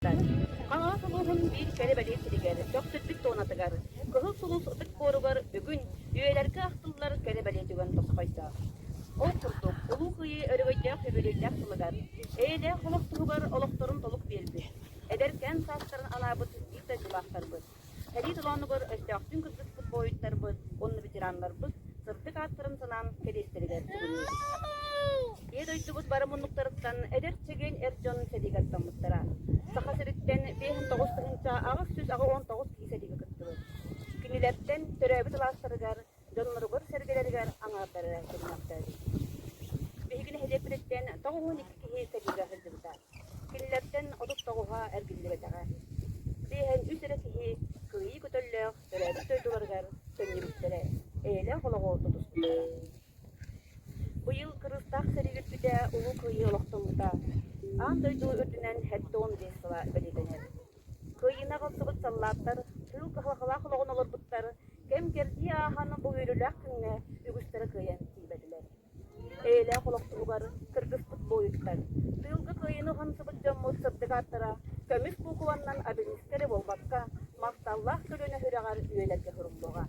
кэнниттэн, Хаҥалас улууһун биир кэрэ-бэлиэ сиригэр, Бөхсүрдүк туонатыгар, Кыһыл Сулус ытык буоругар бүгүн үйэлэргэ ахтыллар кэрэ-бэлиэ түгэн босхойдо. Ол курдук, Улуу Кыайыы өрөгөйдөөх үбүлүөйдээх сылыгар, эйэлээх олох туһугар олохторун толук биэрбит, эдэркээн саастарын алаабыт биир дойдулаахтарбыт, Сэрии толоонугар өстөөхтүүн кыргыспыт буойуттарбыт уонна ветераннарбыт сырдык ааттарын санаан кэриэстэригэр сүгүннүбүт. Ийэ дойдубут бары муннуктарыттан эдэр чэгиэн эр дьон сэриигэ аттаммыттара. Саха сириттэн биэс уон тоҕус тыһыынча аҕыс сүүс аҕа уон тоҕус киһи сэриигэ кыттыбыт. Кинилэртэн төрөөбүт алаастарыгар дьонноругар-сэргэлэригэр аҥаардары көмөлөөхтөөбүт. Биһиги нэһилиэкпититтэн тоҕуһун икки киһи сэриигэ сылдьыбыта. Кинилэртэн отут тоҕуһа эргиллибэтэҕэ. Биэһэн үс эрэ киһи кыайыы көтөллөөх төрөөбүт дойдуларыгар төннүбүттэрэ, эйэлээх олоҕу тутуспуттара. Быйыл кырыыстаах сэрии үрдүтэ Улуу Кыайыы олохтоммута. Аан дойду үрдүнэн сэттэ уон биэс сыла бэлиэтэнэр. Кыайыыны аҕалсыбыт саллааттар тыыл кыһалҕалаах олоҕун олорбуттар, кэм-кэрдии aaһан бу үөрүүлээх күҥҥэ үгүстэрэ кыайан тиийбэтилэр. Эйэлээх олох туһугар кыргыспыт буойуттар, тыылга кыайыыны уһансыбыт дьоммут сырдык ааттара көмүс куукубаннан абинискэ эрэ буолбакка, махталлаах көлүөнэ үрэҕэр үйэлэргэ суруллуоҕа.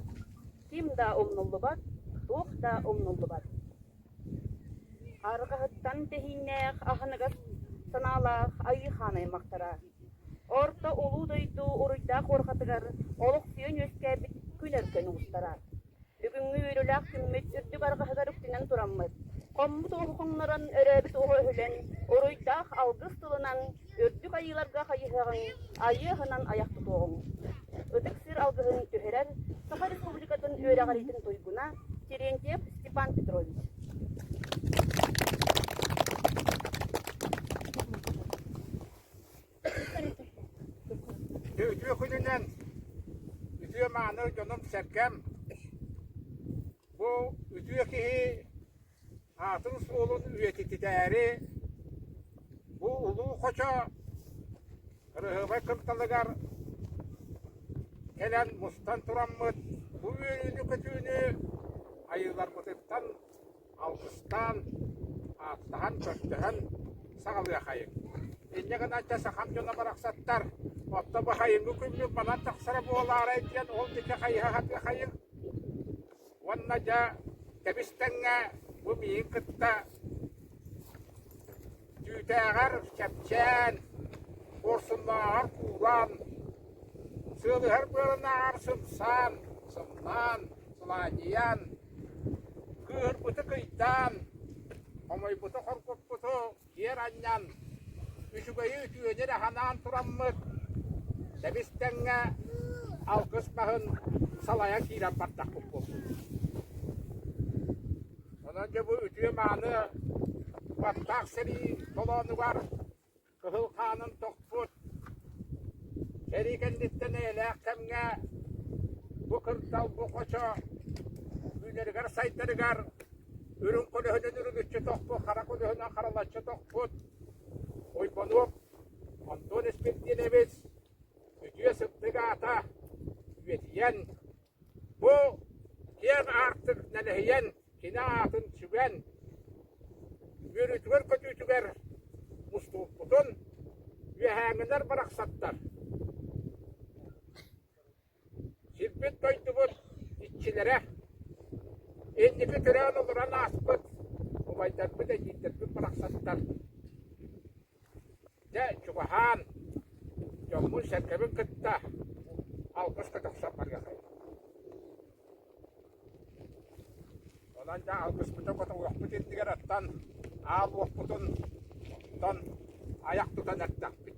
Ким да умнуллубат, туох да умнуллубат. Арҕаһыттан тэһииннээх, аһыныгас санаалаах айыы хаан аймахтара Орто Улуу дойду уруйдаах уорҕатыгар олох сүйэн үөскээбит күн өркөн уустара. Бүгүҥҥү үөрүүлээх күммүт үрдүк арҕаһыгар үктэнэн тураммыт, хоммут оҕуһу хоҥнорон өрөөбүт оҕо өһүлэн, уруйдаах алгыс тылынан, үрдүк айыыларга хайыһаҕын, айыы аһынан айах тутуоҕуҥ. Ытык сир алгыһын түһэрэр Саха Республикатын үөрэҕириитин туйгуна Терентьев Степан Петрович. Үтүө күнүнэн үтүө-мааны дьонум-сэргэм, бу үтүө киһи аатын суолун үйэтититээри бу улуу хочо Рыһылай кымталыгар кэлэн мустан тураммыт бу үөрүүнү-көтүүнү айыыларбытыттан Алгыстаан, ааттаһан, көрдөһөн саҕалыахайыҥ. Инньэ гынан дьэ сахам дьоно барахсаттар оттон бу хайыҥҥы күммүн манан тахсара буолаарай диэн ол диэки хайыһа сатыахайыҥ. Уонна дьэ кэбис тэҥҥэ бу миигин кытта Түүтээҕэр чэпчээн, буорсуннааҕар куулаан, сыалыһар быалынааҕар сымсаан, сымнаан, сылаанньыйаан, кыыһырбыты кыйдаан, хомойбуту хоргуппуту киэр анньан, үчүгэйи үтүөнүн аһанаан тураммыт, тэбис тэҥҥэ алгыс маһын салайан киирэн бардахпыт буолбут Онон дьэ бу үтүө-мааны баттаах сэрии толоонугар кыһыл хаанын тохпут сэрии кэнниттэн эйэлээх кэмҥэ бу кырдал, бу хочо үүнэригэр-сайдарыгар үрүҥ көлөһүнүн үрүлүччү тохпут, хара көлөһүнүн харалаччы тохпут Уйбонуоп Антон Испирдинович үтүө сыттык аата үйэтийэн, Бу киэҥ аартык нэлэһийэн кини аатын сүгэн, үөрүүтүгэр-көтүүтүгэр мустубуппутун үөһээҥҥилэр барахсаттар, сирбит-дойдубут иччилэрэ, инники көрөөн олорон ааспыт убайдарбыт, эдьиийдэрбит барахсаттар Дьэ, чугаһаан, дьоммун-сэргэбин кытта алгыска тахсан барыахай. Онон дьэ алгыспытын хотоҥҥохпут иннигэр оттон, ааллыахпытын оттон, айах тутан эрдэхпит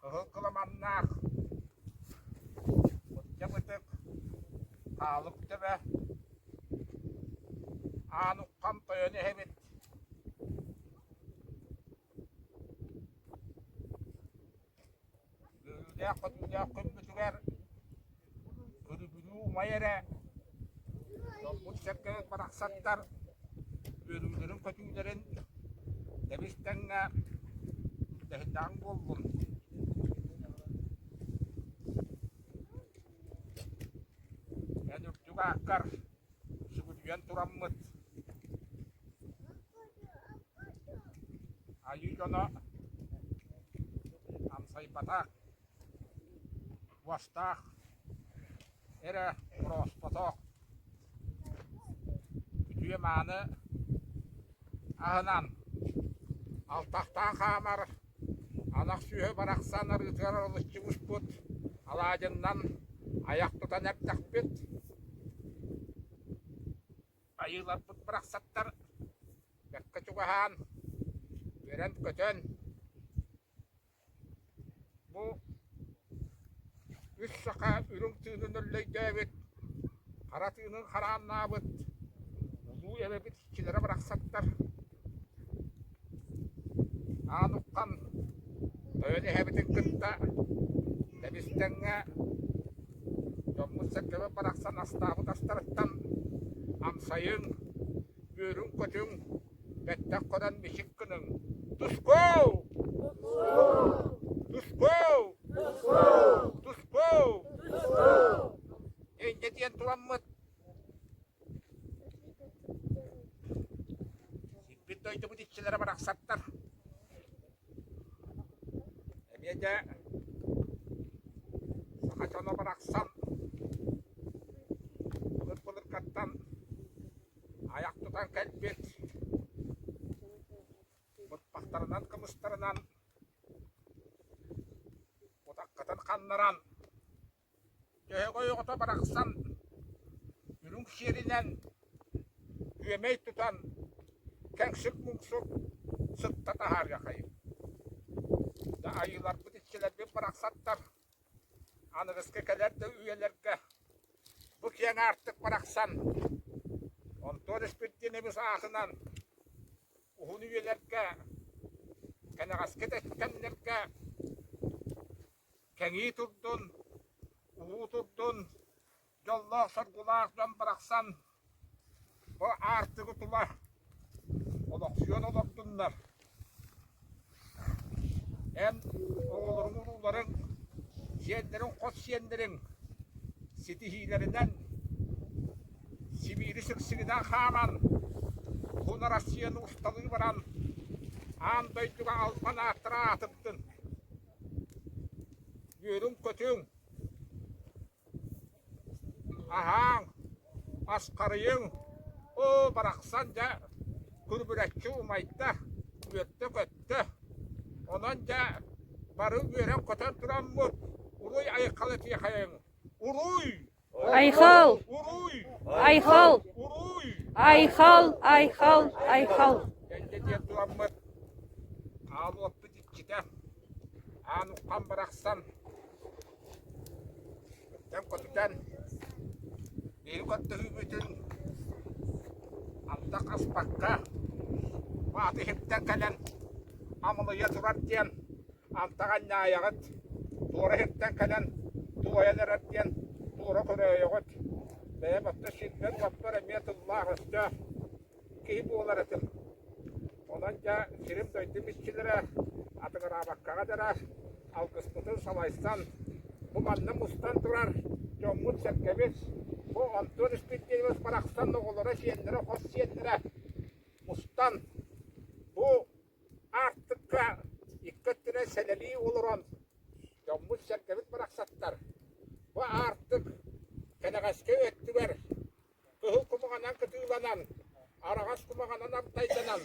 Кыһыл кыламаннаах, мырдьах ытык, хаалык төбө, аанукхам тойон иһэбит Үөрүүлээх-көтүүлээх күммүтүгэр Көрүгүрүү умайа эрэ томмут сэргэһит барахсаттар үөрүүлэрин-көтүүлэрин дэбис тэҥҥэ дэһинэҕиҥ буоллун эн үрдүк ааккар сүгүрүйэн тураммыт айыы дьоно амсайбата Уостаах, эрэ орооспотоох, үтүө-мааны аһынан алтахтаан хаамар ынах сүөһү барахсан арыытыгар арылыччыбыппыт, алаадьыннан айах тутан эрдэхпит, айыыларбыт барахсаттар бэркэ чугаһаан, үөрэн-көтөн Бу үс саха үрүҥ тыынын өллөйдөөбүт, хара тыынын харааннаабыт улуу эбэбит иччилэрэ барахсаттар аан уххан тойон эһэбитин кытта Лэбистэҥҥэ дьоммут-сэргэбит барахсан астаабыт астарыттан амсайыҥ, үөрүҥ-көтүҥ, Бэттэх көрөн мичик гыныҥ. Тускоу! Тускоу! Тускоу! Инньэ диэн туламмыт. Сиппит дойдубут иччилэрэ барахсаттар. Эмиэ дэ саха дьоно барахсан былыр былыргаттан Айах тутан кэлбит быппахтарынан кымыстарынан утаххытын ханнаран төһө ойоҕото барахсан үрүҥ сиэринэн күөмэй тутан кэҥсик-муҥсук сытта таһаарыахайым да айыыларбыт иччилэрбит барахсаттар Аныгыскы кэлэр да үйэлэргэ бу киэн аартык барахсан онтон Республикабыз аатынан уһун үйэлэргэ кэнэҕэски да кэмнэргэ кэҥии турдун, улуу турдун, дьоллоох соргулаах дьон барахсан бу аартыгы тула олохсуйан олордуннар эн оҕолорун урууларын сиэннэрин хос сиэннэрин ситиһиилэринэн Сибиiri сыксыгынан хааман бу Россияны усталыы баран аан дойдуга албан ааттара аатырдын үөрүҥ-көтүҥ Аһааҥ, асхарыйыҥ, оо барахсан дьэ күрбүлэччи умайда, үөттэ-көттө, онон дьэ бары үөрэн-көтөн тураммыт уруй айхалытыахайыҥ, уруй! Айхал! Уруй! Айхал! Уруй! Айхал! Айхал! Айхал! Кэнде диэн туламмыт хаалыаппыт иччитэ, Аанукам барахсан Тэм көтүтэн, биһиги көттүһүүбүтүн антах аспакка, маатыһыттан кэлэн амылыйа турар диэн, антах анньаайаҕыт, туора иһиттэн кэлэн туойан эрэр диэн туора көрөөйөҕүт. Бэйэм оттон сирбэр-уоппар эмиэ тыллаах өстөөх киһи буолар этим. Онон дьэ сирим-дойдум иччилэрэ атыҥыраабаккаҕа дэрэ алгыспытын салайсан, бу манна мустан турар дьоммут-сэргэбит, бу Антон Исхиндинович барахсан оҕолоро, сиэннэрэ, хос сиэннэрэ мустан бу аартыкка икки өттүнэн сэлэлии олорон дьоммут-сэргэбит барахсаттар бу аартык кэнэҕэски өттүгэр Кыһыл кумаҕанан кытыыланан, араҕас кумаҕанан артайданан,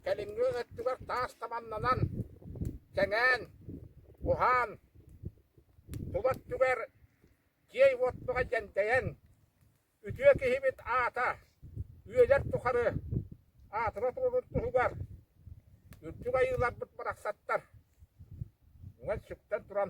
кэлиҥҥи өттүгэр таас таманнанан, тэҥээн, уһаан, тула өттүгэр киэй уоттуга дьэндэйэн, үтүө киһибит аата, үөлэр тухары аатыра туолун туһугар үрдүк айыыларбыт барахсаттар, үҥэн сүктэн туран,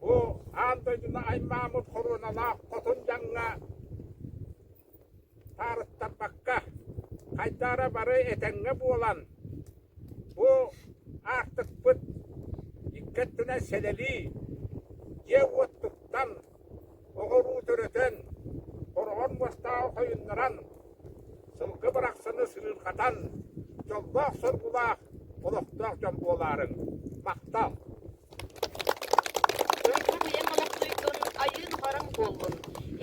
Бу аан дойдуну аймааммыт хоруоналаах хотун дьаҥҥа таарыттарбакка, хайдара бары этэҥҥэ буолан, бу аартыкпыт икки өттүнэн сэлэлии, дьиэ-уот туттан, оҕолуу төрөтөн, хороҕон уостааҕы хойуннаран, сылгы барахсаны сырыырхатан, дьоллоох соргулаах, олохтоох дьон буолаарыҥ. Махтал! Дойду бэйэҥ олохсуйдун, айыын хараҥ буоллун,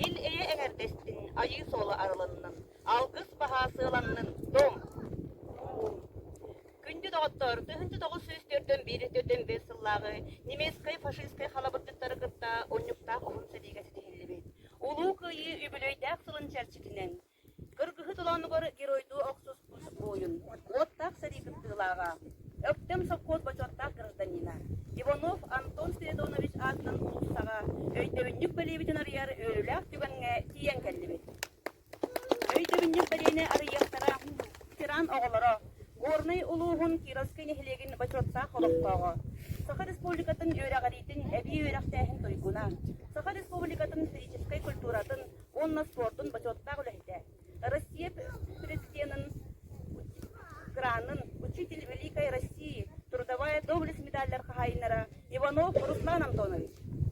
ил-эйэ эҥэрдэстин, айыы суола арылыннын, алгыс баһаа сыаланнын, Дом! Күндү доҕоттор, тыһыынча тоҕус сүүс төрдөн биир төрдөн бэс сыллааҕы немецкай фашистскай халабырдыктары кытта оннуктаах уһун сэриигэ ситиһиллибит. Улуу Кыайыы үбүлүөйдээх сылын чэрчитинэн кыргыһыы толоонугар геройдуу охсус тус буойун, уоттаах сэрии кыттыылааҕа, Өктөм сопхуос бочуоттаах гражданина Иванов Антон Спиридонович аатынан улуустаҕа өйдөбүнньүк бэлиэбитин арыйар үөрүүлээх түгэҥҥэ тиийэн кэллибит. Өйдөбүнньүк бэлиэни арыйыахтара тиран оҕолоро, Горнай улууһун Кировскай нэһилиэгин Бочуоттаах олохтооҕо, Саха Республикатын үөрэҕириитин эбии үөрэхтээһин туйгуна, Саха Республикатын физическэй культуратын уонна спортун бочуоттаах үлэһитэ, Россия Президенин гранын «Учитель Великой России» трудовая доблесть медаллар хаһаайыннара Иванов Руслан Антонович,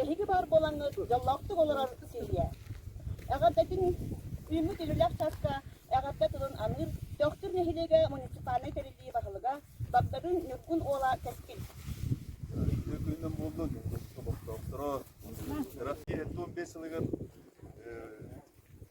Эһиги баар буолаҥҥыт дьоллоохтук олорор сиргэ. Эҕэрдэтин үүммүт үлэлэх чааска эҕэрдэ тылын аныыр Төхтүр нэһилиэгэ муниципальнай тэриллии баһылыга Багдадын Ньургун уола Кэскил. Үтүө күнүнэн буолла Ньургун олохтоохторо. Теракт киирэр туон биэс сылыгар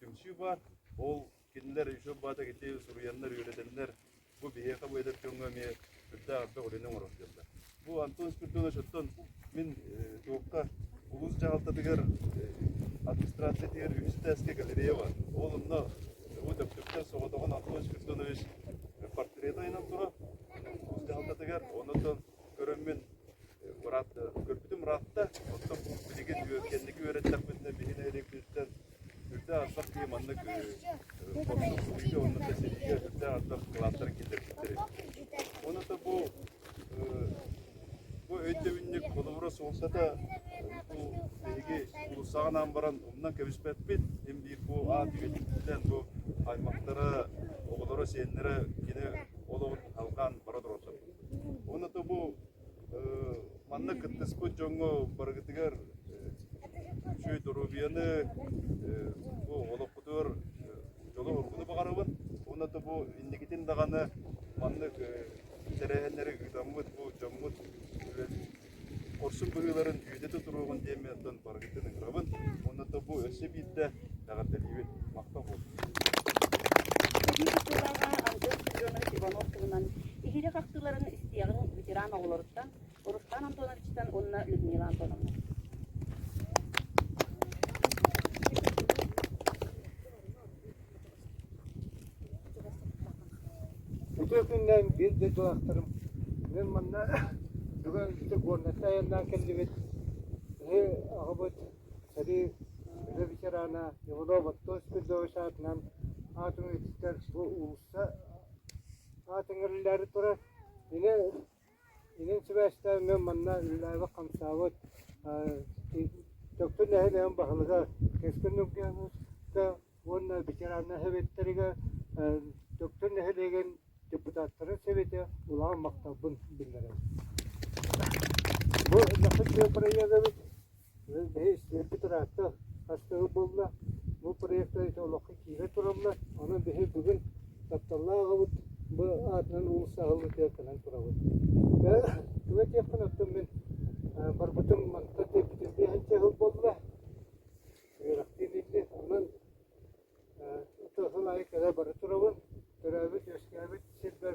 Түмсүү баар. Ол кинилэр үтүө баатах ити суруйаннар, үөрэтэннэр бу биһиэхэ бу эдэр дьоҥҥо эмиэ үрдээх элбэх үлэни оҥорордуллар. Бу Антон Спирдонович оттон мин туохха улуус дьаһалтатыгар администрациятыгар үстээскэ галерея бар. Ол онно бу Дөктөптөөх соҕотоҕун Антон Спирдонович портрет айынан турар улуус дьаһалтатыгар. Оннотон көрөммүн көрбүтүм ыраатта. Оттон билигин кэнники үөрэттэхпитинэ биһи нэһилиэкпититтэн Үрдэ ардах киһи маннык хопсуһууга уонна тэсириигэ үрдэ ардах кылааттар киллэрбиттэрэ. Уонна да бу бу өйдөбүнньүк холобура суолтата бу биһиги улуустааҕынаан баран умнан кэбиспэппит. Им биир бу аат үйэтиттээн бу аймактара, оҕолоро, сиэннэрэ кини олоҕун алҕаан бара тураллар. Уонна да бу Манна кыттыспыт дьоҥҥо барыгытыгар үчүгэй доруобуйаны, бу олохпутугар дьолу-оргуну баҕарабын. Уонна да бу инникитин даҕаны маннык тэрээһиннэри ыытаммыт бу дьоммут хорсун быһыыларын үйэтэ тутуруоҕун диэммин оттон барыгытын ыҥырабын. Уонна да бу өссө биирдэ эҕэрдэлиибин, махтал Бүгүҥҥү сылларга Антон Семенов Иванов туһунан иһирэх ахтыыларын истиэҕиҥ ветеран оҕолоруттан Руслан Антоновичтан уонна Людмила Антоновна. Ытыа күннээн биир да дьылахтарым мен манна бүгін итик уонна тайаннан келдибит Ыһы аҕабыт Сэрии үлэ ветерана Иванов Оттос Спирдович аатынан аатын үлэтиттэр бу уулусса аат эҥэрлээри турар. Ини inin сибээстээммин манна үлэлээбит хамсаабыт Дьокутун нэһилиэгин баһылыга Кэскил Нургиновка уонна ветерана сэбиэттэригэр Дьокутун нэһилиэгин депутаттарын сэбиэтэ улахан махталбын биллэрэр. Бу Өллөхөт бырайыак эбит Кыыс бэйэ истиэргэ ыраатта, хастыгы буолла, бу проекта ити олоххо киирэ тураллар, онон биһи бүгүн тапталлаах аҕабыт бу аатынан уус аһыллыы тыарканан турабыт. Тугу этиэхпин оттон мин барбытым мантан диэбитим биэһинчэ сыл буолла, үөрэхтиин ити, онон тыл аайы кэлэ бара турабын, төрөөбүт-үөскээбит сирбэр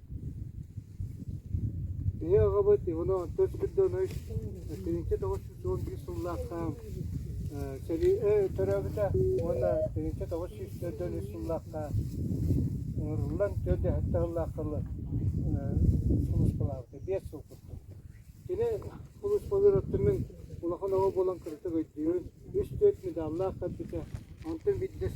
Ийэ аҕабыт Иванов төрт сылдьан үс тыһыынча тоҕус сүүс уон биир сыллаахха сэрии төрөөбүтэ уонна тыһыынча тоҕус сүүс төрдөн үс сыллаахха ыҥырыллан түөрт да сэттэ сыллаахха сулууспалаабыта биэс сыл курдук. Кини сулууспалыыр оттомун улахан оҕо буолан кыратык өйдүүбүн. Үс-түөрт медаллаах көрбүтэ, онтон биирдэс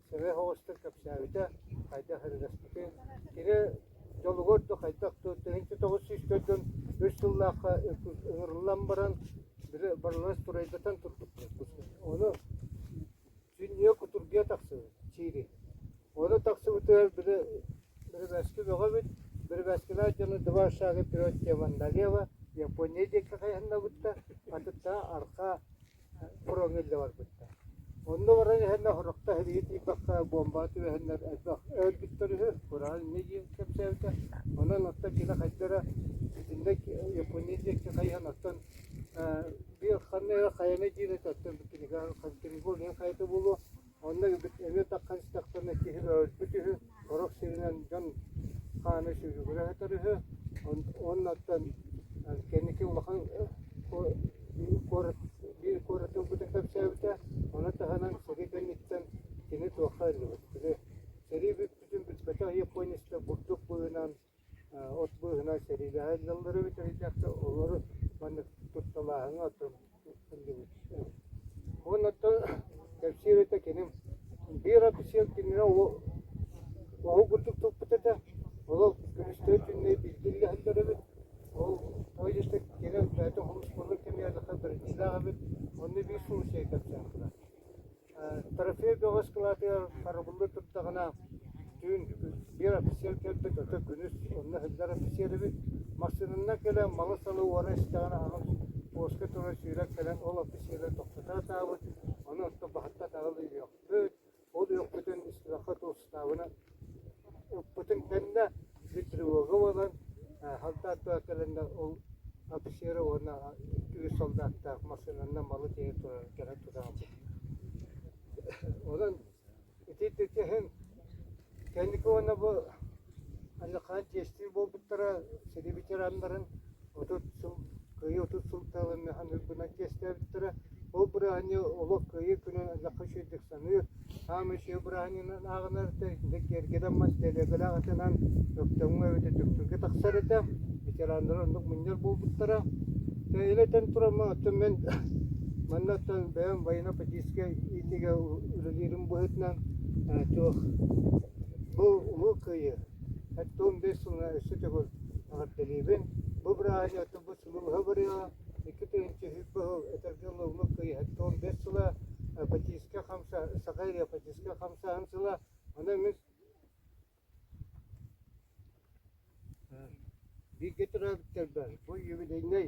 сыһыах оҕустан кэпсээбитэ, хайдах эрилэспитин, кини дьолугар да хайдах да тыһыынча тоҕус сүүс дьон үс сыллаахха ыҥырыллан баран били барыларын турайдатан турбуппут ону сүнньүө кутургуйа тахсыбыт сири ону тахсыбытыгар били бирибээски бөҕөбүт бирибээскилээх дьону два шага вперед теман налево япония диэки хайаннабытта атыттаа арха фроҥҥа илдьэ барбыттар. Онно баран иһэн оһорохто иһитии тиийбэххэ буомба түбэһэннэр элбэх өлбүттэр үһү, кураан инньэ диэн кэпсээбитэ. Онон оттон кини хайдара итиннэ Япония диэки хайыһан оттон биир ханна хайаны диэн оттон кинигэ Контингур хайата буолуо Онно эмиэ таххан истэхтэринэ киһи өрүспүт үһү, сорох сиринэн дьон хаана сүгүгүрэ сытар үһү. Оннуттан кэнники улахан куорат биир куоратын быта кэпсээбитэ. Ону таһынан сэрии кэнниттэн кини туохха ыллыбыт. Били сэрии бүппүтүн билбэтэх Япониста бурдук быынан от быыһынан сэриилэһэ ыллыллары бүтэһиккэ олору маннык тутталааһыҥҥа оттон ыллыбыт уонна оттон кэпсиир этэ киним биир офицер кинини оһу курдук туппут этэ олох күнүстэри түннэри билгиллэһэллэр эбит ол тоҕо диэште кини бэйэтин хомуспуннук кэмигэрдахха бэриллээх эбит онно биир сулусия кэпсээннэр Трофей бөҕөс кылаатыгар харабыллыы турдаҕына, түүн биир офицер кэлбит, ото күнүс онно иһиллэр офицер эбит. Массыынаннан кэлэн малы-салы уора истэҕинэ аһын буоска турар сүүрэн кэлэн ол офицеры тохтото сатаабыт, ону онто баһыттан аҕал үһүөхпүт, ол үөхпүтүн истибэххэ туох ыстаабына Эппитим кэннэ гидрологым ылан халдааттаах кэлэннэр ол офицеры уонна үс солдааттаах массыынанан малы тиэрэ турар кэлэн тутааччыт Онон итинтэ иһин кэнники уонна бу ханна хаан чиэстии буолбуттара сири ветераннарын отут сыл кыайыы отут сыл таалыҥнаһан ырбынан чиэстээбиттэрэ. Ол бырааһынньык олох кыайыы күнүн элэххэ үчүгэйдик саныыр, хаан үчүгэй бырааһынньыгынан ааҕынар да, итинник киэргэтэммэт дэлиэгэлээх атынан Өктөмҥө эбэтэр Дүксүргэ тахсар этэ, ветераннар оннук мунньар буолбуттара. Ил этэн турама, оттон мен манна оттон бэйэм военно-политическай иитиигэ үлэлиирим быһыытынан э, туох бу улуу кыайыы. Оттон бес сылына өссө төгүл Эҕэрдэлиибин, бу бырааһынньыктан бу сулууһа барыаҕа икки тыһыынча сүүс боһуок этэргэ ылыллыбыт кыйыһатта уон биэс сыла эпатииска хамса саха эпатииска хамсааһын сыла аны эмис бииргэ төрөөбүттэрбэ бу юбилейнай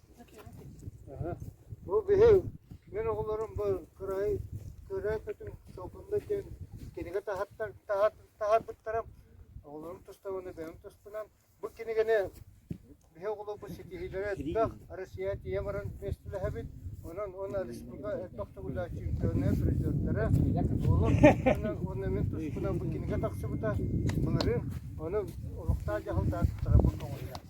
Бу биһиги мин оҕолорум бу кыраай кыраай көтүм толкунда диэн кинигэ таһаттар таһат таһарбыттара оҕолорум тустабына бэйэм туспунан бу кинигэни биһи оҕолор бу ситиһиилэрэ элбэх Россия тиийэ баран миэстэлэһэбит онон уонна республика элбэх төгүллээх чемпионнар призердара буолар уонна уонна мин туспунан бу кинигэ тахсыбыта былырын ону олохтоох дьаһалтаатыттара бу көҕүллээх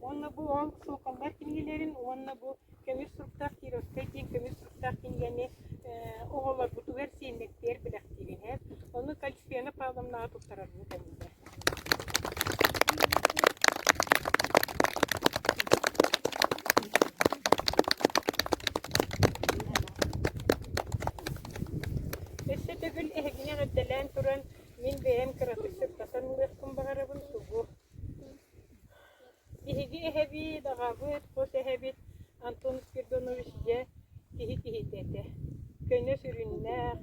уонна бу ол суокаллар кинигэлэрин уонна бу көмүс суруктаах Кировскай диэн көмүс суруктаах кинигэни оҕолорбутугар сиэннэктиэр бэлэхтиир иһэр. Ону Кальцфена Павловнаҕа туттарарбыт эбиллэр. Өссө төгүл эһигини эҕэрдэлээн туран мин бэйэм кыратык сырдатан ылыахпын баҕарабын сугу Биһиги эһэбит, аҕабыт, хос эһэбит Антон Спиридонович дьэ киһи киһитэ этэ. Көнө сүрүннээх,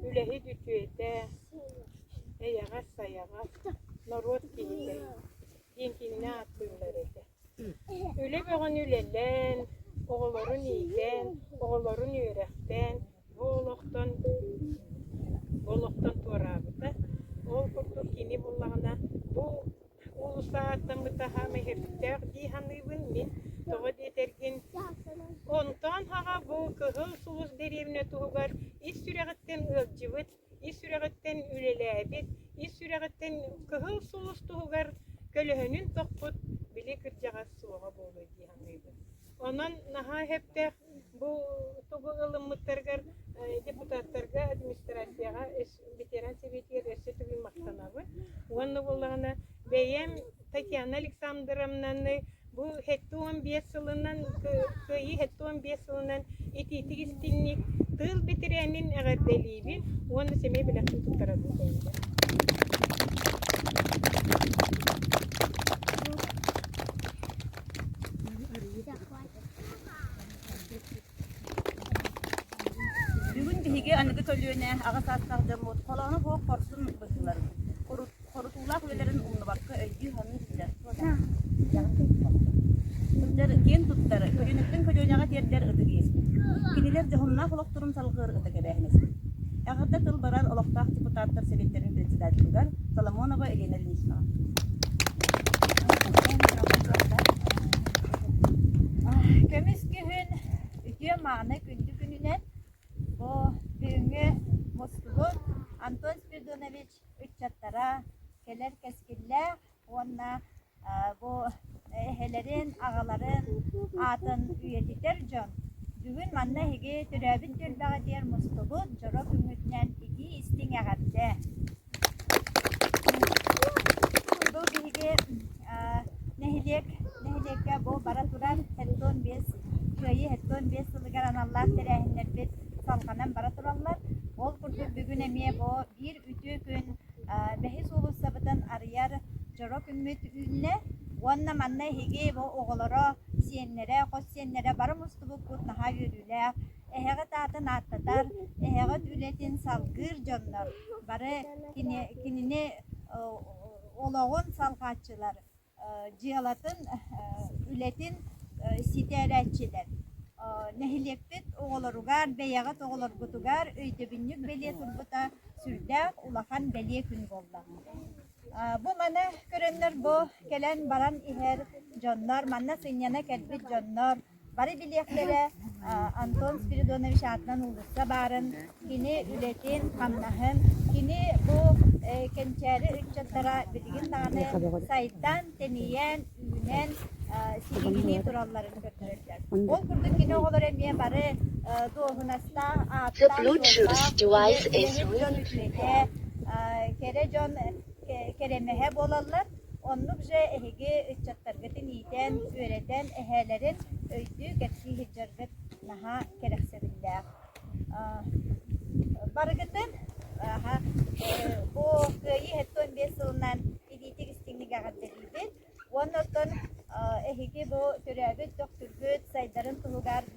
үлэһит үтүөтэ, эйэҕэс-сайаҕас, норуот киһитэ диэн кинини ааттыыллар этэ. Үлэ бөҕөнү үлэлээн, оҕолорун иитэн, оҕолорун үөрэхтээн бу олохтон бу олохтон туораабыта. Ол курдук кини буоллаҕына бу Уулусса ааттаммыта аһаам иһирдьээх дии саныыбын мин тоҕо диэтэргин онтон аҕа бу Кыһыл Сулус дэриэбинэ туһугар ис сүрэҕиттэн ыалдьыбыт, ис сүрэҕиттэн үлэлээбит, ис сүрэҕиттэн Кыһыл Сулус туһугар көлөһүнүн тохпут били кырдьаҕас суоҕа буолуо дии саныыбын. Онон наһаа сөптөөх бу тугу ылыммыттарыгар депутаттарга администрацияҕа ветеран сэбиэтигэр өссө төгүл махтанабын уонна буоллаҕына бэйэм татьяна александровнаны бу сэттэ уон биэс сылынан кыайыы сэттэ уон биэс сылынан итиитик истинник тыыл бэтэрээнин эҕэрдэлиибин уонна сэмэй бэлэхтин туттарабын Бүгүн биһиги аныгы көлүөнэ аҕа саастаах дьоммут холоонох уһук хорсун быһыыларын, хору- хорутуулаах үлэлэрин умнубакка өйдүү-саныы сылдьар. Сылдьар киэн туттар, көлүөнэттэн көлүөнэҕэ тиэрдэр ытык иэспит. Кинилэр дьоһуннаах олохторун салҕыыр ытык эбээһинэспит. Эҕэрдэ тыл баран олохтоох депутаттар Сэбиэттэрин председателигэр Соломонова Елена Ильиничнаҕа. Көмүскэ Күн үтүө-мааны күндү күнүнэн бу бүгүҥҥү мустубут Антон Спиридонович ыччаттара кэлэр кэскиллээх уонна бу эһэлэрин, аҕаларын аатын үйэтитэр дьон. Бүгүн манна эһиги төрөөбүт түөлбэҕитигэр мустубут дьоро күҥҥүтүнэн итии истиҥ эҕэрдэ! Бу биһиги нэһилиэк нэһилиэккэ бу бара турар һектон биэс кыайыы һектон биэс сылыгар аналлаах тэрээһиннэрбит салҕанан бара тураллар. Ол курдук бүгүн эмиэ бу биир үтүө күн бэһис уулуссабытын арыйар дьоро күммүт үүннэ уонна манна эһиги бу оҕолоро, сиэннэрэ, хос сиэннэрэ бары мустубуппут наһаа үөрүүлээх Эһэҕит аатын ааттатар, эһэҕит үлэтин салгыыр дьоннор, бары кинини олоҕун салҕааччылар, дьыалатын, үлэтин ситээрээччилэр. Нэһилиэкпит оҕолоругар, бэйэҕит оҕолоргутугар өйдөбүнньүк бэлиэ турбута сүрдээх улахан бэлиэ күн буолла. Бу маны көрөннөр бу кэлэн баран иһэр дьоннор, манна сынньана кэлбит дьоннор Бары билиэхтэрэ, Антон Спиридонович аатынан уулусса баарын, кини үлэтин, хамнаһын, кини бу кэнчээри ыччаттара билигин даҕаны сайдан, тэнийэн, үүнэн, силигинии туралларын көрдөрөллөр. Ол курдук кини оҕолоро эмиэ бары дуоһунастаах, ааттаах, кэрэ дьон кэрэмэһэ буолаллар. Оннук дьэ эһиги ыччаттаргытын иитэн, үөрэтэн эһээлэрин өйдүү кэпсии сылдьаргыт наһаа кэрэхсэбиллээх. Барыгытын бу Кыайыы сэттэ уон биэс сылынан илиитик-истиҥник эҕэрдэлиибин уонна оттон эһиги бу төрөөбүт төхтүргүт сайдарын туһугар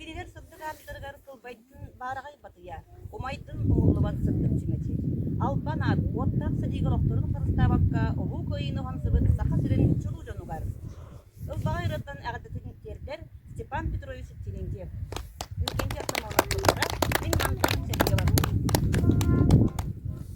Кинилэр сырдык аатыттарыгар тылбайдын баараҕай батыйа, умайдын умуллубат сырдык чүмэчи, албан аат уоттаах сытыы олохторун харыстаабакка Улуу Кыайыыны уһансыбыт Саха сирин чулуу дьонугар, ылбаҕай ырыаттан эҕэрдэтин тиэрдэр Степан Петрович Терентьев, Иннокентий Артамоновтарга мин мантан сэргиэбэр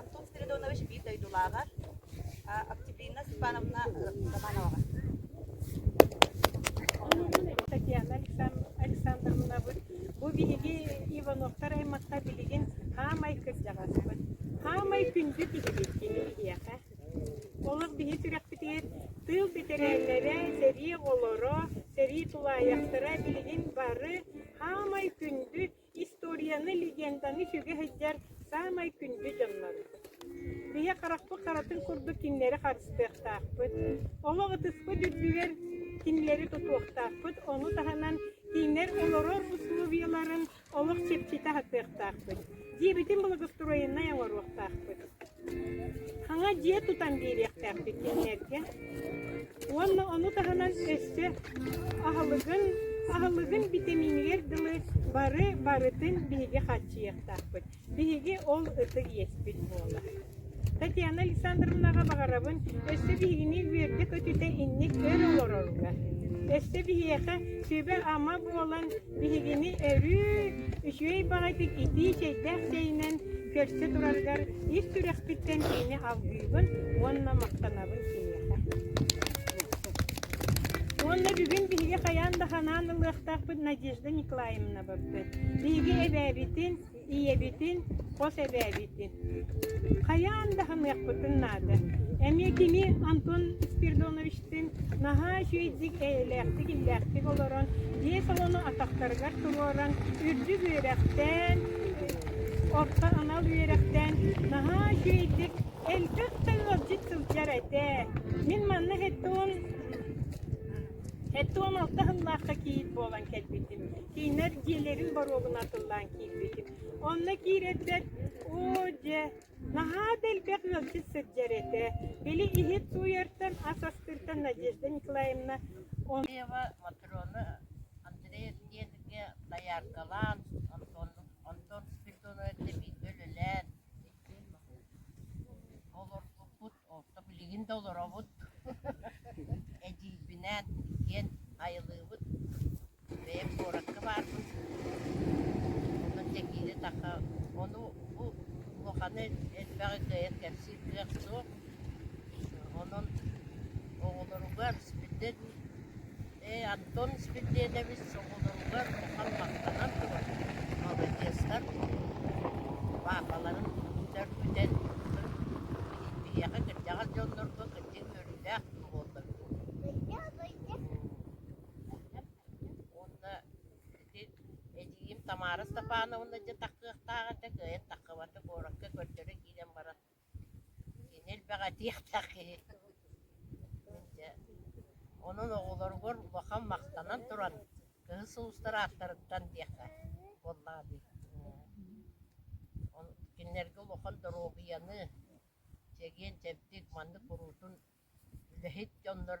Антон Спиридонович биир дойдулааҕар Октябрина Степановна Романоваҕа Татьяна Александровнабыт бу биһиги Ивановтар аймахтар билигин хаамай кырдьаҕаспыт. Хаамай күндү киһибит кини биһиэхэ. Олох биһи сүрэхпитигэр тыыл бэтэрээннэрэ, сэрии оҕолоро, сэрии тулаайахтара билигин бары хаамай күндү Историяны, легенданы сүгэһэйдэр саамай күндү дьоннорум. Биһи харахпыт харатын курдук кинилэри харыстыахтаахпыт, олох ытыспыт үрдүгэр кинилэри тутуохтаахпыт, ону таһынан кинилэр олорор усулуобуйаларын олох чэпчэтэ аһатыахтаахпыт, дьиэбитин благоустроеннай оҥоруохтаахпыт. Хаҥа дьиэ тутан биэриэхтээхпит кэннэргэ уонна ону таһынан өссө аһылыгын аһылыгын битэмиинигэр дылы бары барытын биһиги хааччыйыахтаахпыт. Биһиги ол ытык иэспит буолар. Татьяна Александровнаҕа баҕарабын өссө биһигини үөргэ-көтүтэ инник өр олороругар. Өссө биһиэхэ сүбэ-ама буолан Биһигини өрүү үчүгэй баҕайытык итии чэйдээх чэйинэн көрсө турарыгар ис сүрэхпиттэн кини алгыыбын уонна махтанабын киһиэхэ. Уонна бүгүн биһиги хайаан да санаан ылыахтаахпыт Надежда Николаевна барбыт. Биһиги эбээбитин ийэбитин, хос эбээбитин. Хайаан да саныахпытын наада. Эмиэ кини Антон Спиридоновичтыын наһаа үчүгэйдик, эйэлээхтик, иллээхтик олорон, дьиэ салону атахтарыгар туруоран, үрдүк үөрэхтээн, орто анал үөрэхтээн наһаа үчүгэйдик элбэх да ыалдьыт сылдьар этэ. Мин манна хэттон Эттуом алта сыллаахха кийиит буолан кэлбитим, кинилэр дьиэлэрин боруогун атыллаан киирбитим. Онно киирэрбэр «Оо, дьэ, наһаа да элбэх ыалдьыт сылдьар этэ, били иһит сууйартан, ас астыыртан Надежда Николаевна...» Ева Матроны Андрей дьиэтгэ дояркалаан, Антон Антон Спиридонович эбиитэ үлэлээн, иккиэн олорбуппут. Оттон билигин да олоробут, эдьиийбинээн диэн айылыыбыт бэйэм куоракка баарбын. Онон тэҥири-таха ону бу улаханы элбэҕи кыайан кэпсиир кыах суох. Онон оҕолоругар, сүбэтин Ээ, Антон Спирдиэдэбис соболоругар улахан махтанан туран, молодецтар паапаларын сөргүтэн, биһиэхэ кырдьаҕас дьоннорго кырдьык үөрүүлээх буоллар уонна ити эдьиийим Тамара Степановна дьэ тахсыахтаах этэ, кыайан тахсыбата куоракка көрдөрө киирэн баран Кини элбэҕитиэхтэх киһи дьэ онон оҕолоругар улахан махтанан туран кыһыл сулустар ааттарыттан диэххэ буоллаҕа дии кинилэргэ улахан доруобуйаны чэгиэн чэбдик маннык куруутун үлэһит дьоннор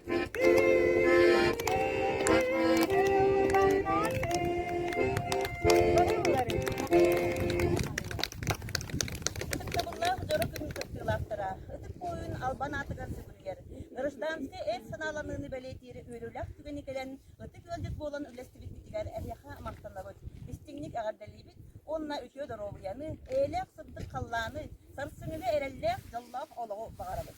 албан аатыгар сытыгар. Гражданскай эр санааланыыны бэлиэтиир үөрүүлэх түгэни кэлэн, ытык ыалдьыт буолан үллэстибиппитигэр эһиэхэ махтанабыт. Истиҥник эҕэрдэлиибит уонна үтүө доруобуйаны, эйэлээх сырдык халлааны, сарсыҥҥыга эрэллээх дьоллоох олоҕу баҕарабыт.